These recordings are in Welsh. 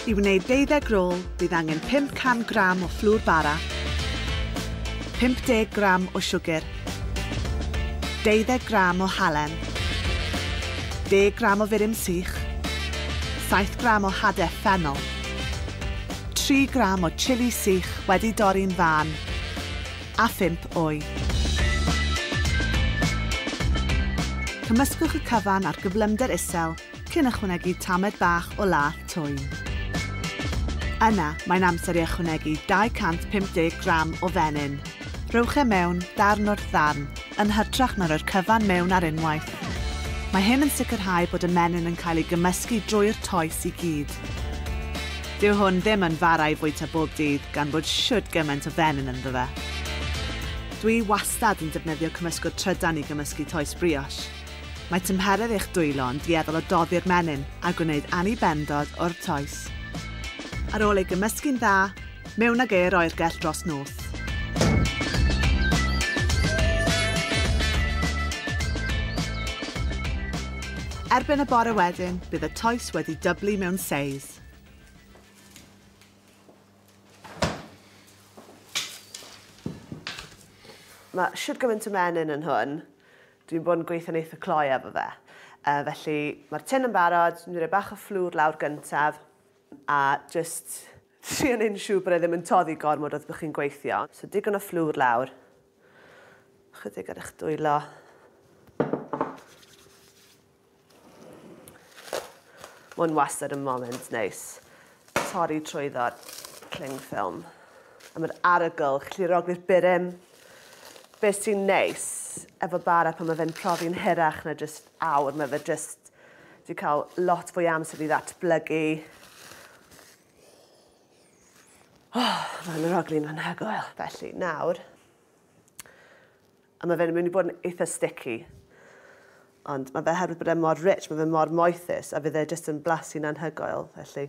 I wneud deuddeg rôl, bydd angen 500 gram o fflwr bara, 50 gram o siwgr, deuddeg gram o halen, deg gram o furum sych, saith gram o hade ffennol, tri gram o chili sych wedi dorri'n fân, a phump oed. Cymysgwch y cyfan a'r gyflymder isel cyn ychwanegu tamed bach o lath twym. Yna, mae'n amser i ychwanegu 250 gram o fenyn. Rhowch e mewn, darn wrth ddarn, yn hytrach na rhoi'r cyfan mewn ar unwaith. Mae hyn yn sicrhau bod y menyn yn cael ei gymysgu drwy'r toes i gyd. Dyw hwn ddim yn fara i fwyta bob dydd gan fod shwd gymaint o fenyn ynddo fe. Dwi wastad yn defnyddio cymysgwr trydan i gymysgu toes brioche. Mae tymheredd eich dwylo yn dueddol o doddi'r menyn a gwneud annibendod o'r toes. Ar ôl ei gymysgu'n dda, mewn ag e i'r oergell dros nos. Erbyn y bore wedyn, bydd y toes wedi dyblu mewn seis. Mae shwd gymaint o menyn yn hwn. Dwi'n bod yn gweithio'n eitha cloi efo fe. Uh, felly mae'r tin yn barod, dwi'n rhoi bach o fflwr lawr gyntaf a just trio neud yn siŵr bod e ddim yn toddi gormod wrth bod chi'n gweithio. So digon o fflwr lawr. Chydig ar eich dwylo. Mae'n wastad yn moment neis torri trwyddo'r cling ffilm. A mae'r arogl, chi'n rogli'r burum. Be sy'n neis efo bara pan mae fe'n profi'n hirach na jyst awr, mae fe jyst di cael lot fwy amser i ddatblygu. Oh, mae'n aroglu'n anhygoel. Felly, nawr, A mae fe'n mynd i bod yn eitha sticky. Ond mae fe herwydd bod e mor rich, mae fe mor moethus, a fydd e jyst yn blasu'n anhygoel, felly.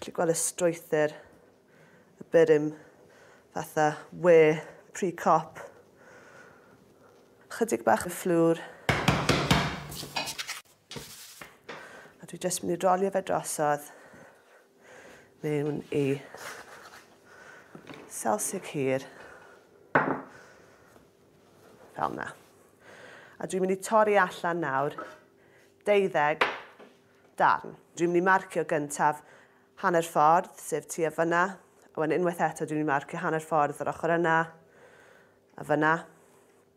Chli gweld y strwythyr y byrym fatha we pre-cop. Chydig bach o fflwr. A dwi jyst mynd i rolio fe drosodd mewn i salsig hir fel yna. A dwi'n mynd i torri allan nawr deuddeg darn. Dwi'n mynd i marcio gyntaf hanner ffordd, sef tu a fyna. A wedyn unwaith eto dwi'n mynd i marcio hanner ffordd yr ochr yna a fyna.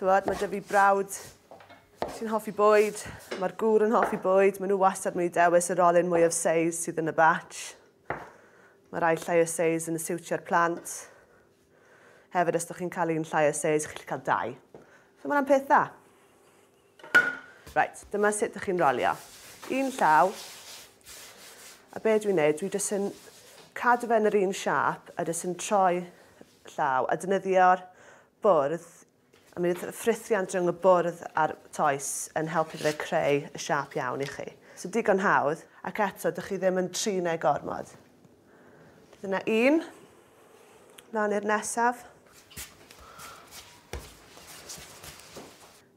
Tywod, mae dyfu brawd sy'n hoffi bwyd, mae'r gŵr yn hoffi bwyd, maen nhw wastad mynd i dewis yr olyn mwyaf seis sydd yn y batch. Mae rhai llai o seis yn y siwtio'r plant. Hefyd, os ydych chi'n cael un llai o seis, chi'n gallu cael dau. So mae'n peth dda. Right, dyma sut ydych chi'n rolio. Un llaw. A be dwi'n neud, dwi jyst yn cadw fe yn yr un siap a jyst yn troi llaw a defnyddio'r bwrdd, a mi fydd ffrithiant rhwng y bwrdd a'r toes yn helpu fe creu y siâp iawn i chi. So digon hawdd, ac eto dych chi ddim yn trin e gormod. Dyna un. Mlaen i'r nesaf.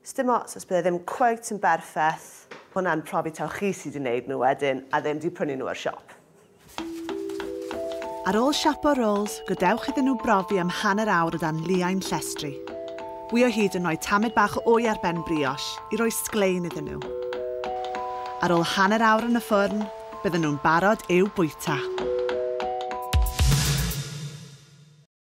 Sdim ots os bydd e ddim cweit yn berffeth, hwnna'n profi taw chi sy 'di neud nhw wedyn a ddim 'di prynu nhw o'r siop. Ar ôl siapo rolls, gadewch iddyn nhw brofi am hanner awr o dan liain llestri. Wy o hyd yn rhoi tamed bach o wy ar ben brioche i roi sglein iddyn nhw. Ar ôl hanner awr yn y ffwrn, bydden nhw'n barod i'w bwyta.